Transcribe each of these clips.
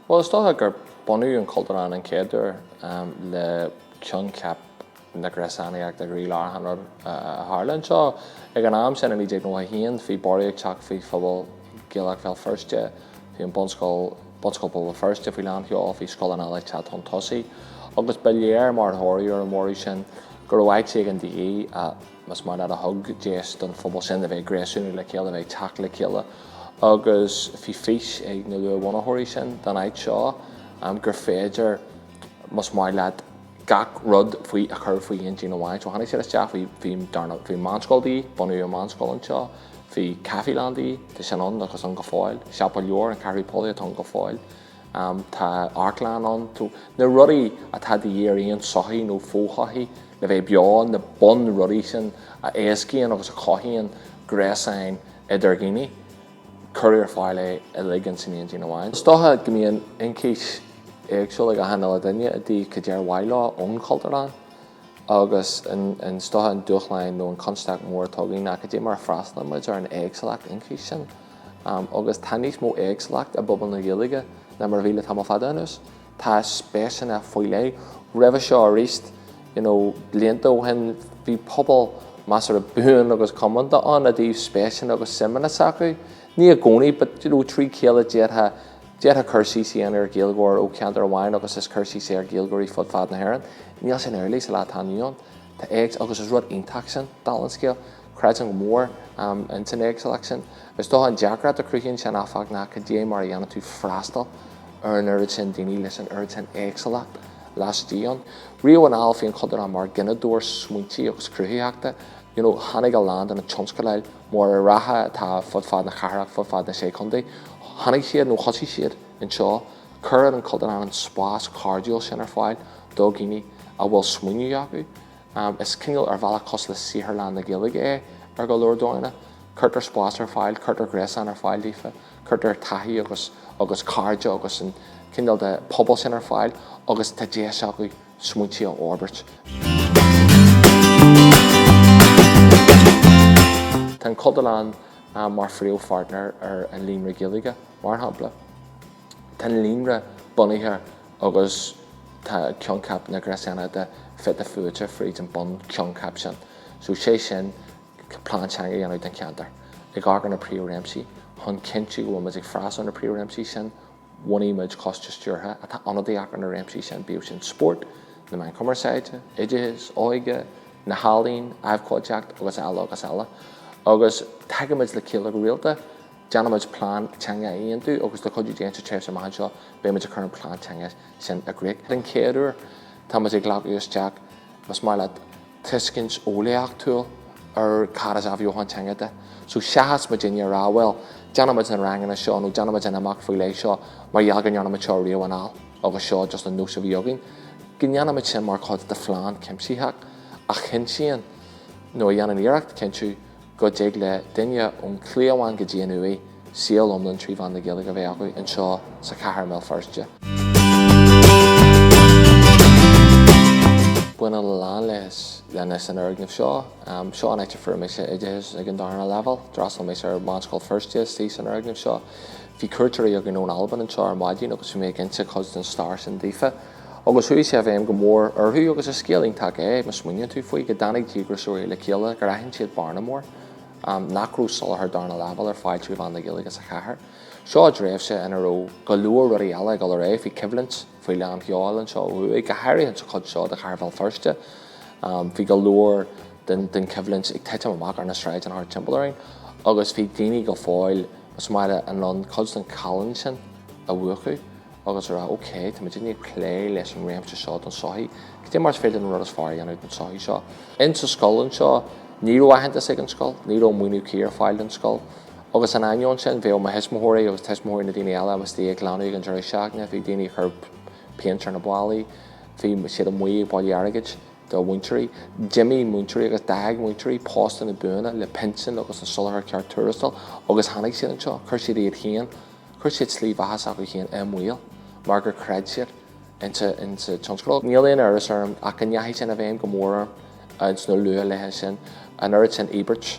Bhuel, is dócha gur bunaíodh an Cultúrlann an chéad uair le coincheap na gréasánaíochta i gcroílár an rud a tharla anseo. Ag an am sin i 1991 bhí borradh ag teacht faoi phobal Gaelach Bhéal Feirste, bhí an bunscoil, Bunscoil Phobal Feirste, faoi lánsheol, bhí Gaelscoil na bhFál tagtha chun tosaigh, agus ba léir mar thoradh ar an bhorradh sin, go raibh áit éigin de dhíth, más maith leat, a thug deis don phobal sin a bheith ag gréasúnú le chéile, a bheith ag teacht le chéile. Agus bhí fís ag na luathbhunaitheoirí sin don áit seo, gur féidir, más maith leat, gach rud faoi a chur faoi aon díon amháin. So tháinig siad isteach, bhí, bhí, dar ndóigh, bhí meánscoil de dhíth, bunaíodh an meánscoil anseo, bhí caifelann de dhíth, tá sin ann agus ann go fóill, siopa leabhar, an Ceathrú Póilí, atá ann go fóill. Tá amharclann ann. Na rudaí atá de dhíth ar aon sochaí nó fo-shochaí le bheith beo, na bunrudaí sin a éascaíonn agus a chothaíonn gréasáin idir dhaoine, cuireadh ar fáil iad uilig ins an aon díon amháin. Is dócha go mbíonn ionchais éagsúla ag achan uile dhuine i dtaobh cad é ar mhaith leo ón Chultúrlann. Agus is dócha an dúshlán nó an constaic mhór atá againn, ná cad é mar a freastalaímid ar an éagsúlacht ionchais sin. Agus tá níos mó éagsúlacht i bpobal na Gaeilge ná mar a bhí le tamall fada anuas. Tá spéiseanna faoi leith roimhe seo aríst, you know, blianta ó shin bhí pobal measartha buan agus comónta ann i dtaobh spéiseanna agus suimeanna s'acu. Ní i gcónaí but, you know, trí chéile d'fhéadfá, D'fhéadfá cur síos a dhéanamh ar Ghaeilgeoir ó cheantar amháin agus is cur síos é ar Ghaeilgeoirí fud fad na hÉireann. Níl sin amhlaidh sa lá atá inniu ann. Tá éags agus is rud iontach sin, dála an scéil. Creidim go mór in san éagsúlacht sin. Is dócha an deacracht a chruthaíonn sin, áfach, ná cad é mar a dhéanann tú freastal ar an oiread sin daoine leis an oiread sin éagsúlacht laistigh díobh. Riamh anall bhí an Cultúrlann mar gineadóir smaointe agus cruthaitheachta, you know, tháinig a lán de na tionscadail móra reatha atá fud fad na cathrach, fud fad na Sé Chontae. Tháinig siad, nó thosaigh siad, anseo. Cuireann an Cultúrlann an spás cairdiúil sin ar fáil do dhaoine a bhfuil smaoineamh acu. Is cineál, ar bhealach, cosúil le saotharlann na Gaeilge é ar go leor dóigheanna. Cuirtear spás ar fáil, cuirtear gréasán ar fáil daofa, cuirtear taithí agus cairde agus an cineál de phobal sin ar fáil agus tá deis acu, smaointe a fhorbairt. Tá an Cultúrlann mar phríomhpháirtnéir ar an Líonra Gaeilge, mar shampla. Tá an Líonra bunaithe agus tá coincheap na gréasánaíochta fite fuaite fríd an bunchoincheap sin, so sé sin plean teanga a dhéanamh don cheantar, ag aithint na príomhréimsí chun cinntiú go bhfuil muid ag freastal ar na príomhréimsí sin, bhunaigh muid coiste stiúrtha atá ionadaíoch ar na réimsí sin, bíodh sin spórt, na meáin chumarsáide, oideachas, óige, na healaíon, abhcóideacht agus eile agus eile. Agus tagaimid le chéile go rialta, déanaimid plean teanga a aontú agus, le cuidiú Dé, sa tréimhse amach anseo beidh muid ag cur an plean teanga sin i gcrích den chéad uair. Tá muid ag glacadh isteach, más maith leat, tuiscint eolaíochtúil ar cad is athbheochan teanga de. So, seachas muidinne a rá, bhuel, déanfaimid na ranganna seo nó déanfaimid an imeacht faoi leith seo mar gheall go ndéanaimid seo riamh anall agus seo just an nós a bhí againn, go ndéanfaimid sin mar chuid de phlean cuimsitheach a chinntíonn, nó a dhéanann iarracht cinntiú, go dtig le duine ón chliabhán go dtí an uaigh saol iomlán trí mheán na Gaeilge a bheith acu anseo sa chathair i mBéal Feirste. Baineann a lán leis leis an fhoirgneamh seo. Seo an áit ar fuair mise oideachas ag an darna leibhéal. D'fhreastail mé ar Mheánscoil Feirste istigh san fhoirgneamh seo. Bhí cuairteoirí againn ón Albain anseo ar maidin agus bhí mé ag inse cuid den stair sin daofa. Agus chuaigh sé i bhfeidhm go mór orthu, agus is scéal iontach é má smaoiníonn tú faoi, go dtáinig díograiseoirí le chéile, gur aithin siad bearna mór, nach raibh soláthar darna leibhéal ar fáil trí mheán na Gaeilge sa chathair. Seo i dtréimhse ina raibh go leor rudaí eile ag dul ar aghaidh, bhí coimhlint faoi lán sheoil anseo ó thuaidh, go háirithe insa chuid seo de chathair Bhéal Feirste, bhí go leor den choimhlint ag titim amach ar na sráideanna thart timpeall orainn, agus bhí daoine go fóill, más maith leat, in ann cuid den challán sin a mhúchadh. agus a rá, OK, tá muidinne ag plé leis an réimse seo den tsochaí, cad é mar is féidir an rud is fearr a dhéanamh don tsochaí seo? In sa scoil anseo, ní raibh aitheantas ag an scoil, ní raibh maoiniú cuí ar fáil don scoil. Agus in ainneoin sin, bhíodh mo thuismitheoirí agus tuismitheoirí na daoine eile istigh ag glanadh ag an deireadh seachtaine, bhí daoine ag cur péint ar na ballaí, bhí siad amuigh ag bailiú airgid do mhúinteoirí. D'imigh múinteoirí agus d'fhág múinteoirí postanna buana le pinsin agus an soláthar ceart tuarastail agus tháinig siad anseo, chuir siad iad féin, Chuir siad slí bheatha s'acu féin i mbaol mar gur chreid siad insa tionscadal. Níl aon amhras orm ach go ndeachaigh sin i bhfeidhm go mór orm insna luathlaetha sin, an oiread sin íobairt,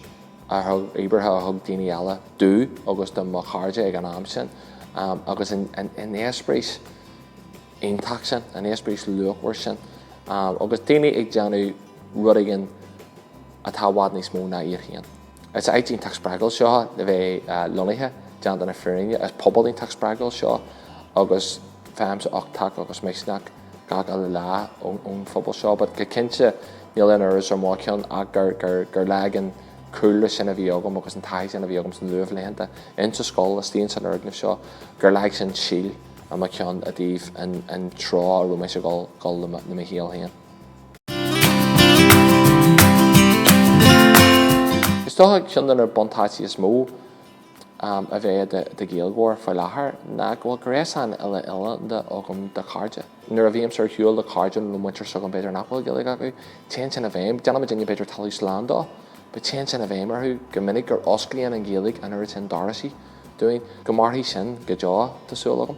íobartha a thug daoine eile domh agus do mo chairde ag an am sin agus an eispéireas iontach sin, an eispéireas luachmhar sin agus daoine ag déanamh rud éigin atá i bhfad níos mó ná iad féin. Is áit iontach spreagúil seo le bheith lonnaithe, déanta na fírinne. Is pobal iontach spreagúil seo agus faighimse uchtach agus misneach gach uile lá ón phobal seo. But go cinnte, níl aon amhras ar mo cheann ach gur leag an cúlra sin a bhí agam agus an taithí sin a bhí agam sna luathlaethanta, insa scoil, istigh ins an fhoirgneamh seo, gur leag sin síol i mo cheann i dtaobh an treo a raibh mise ag dul le mo shaol féin. Is dócha ceann de na buntáistí is mó a bheith i do Ghaeilgeoir faoi láthair ná go bhfuil gréasán uile-oileánda agam de chairde. Nuair a bhímse ar shiúl le cairde nó le muintir s'agam b'fhéidir nach bhfuil Gaeilge acu, téann sin i bhfeidhm, déanann muidinne b'fhéidir talamh slán de, but téann sin i bhfeidhm orthu go minic gur osclaíonn an Ghaeilge an oiread sin doraisí dúinn. Go mairfidh sin go deo, tá súil agam.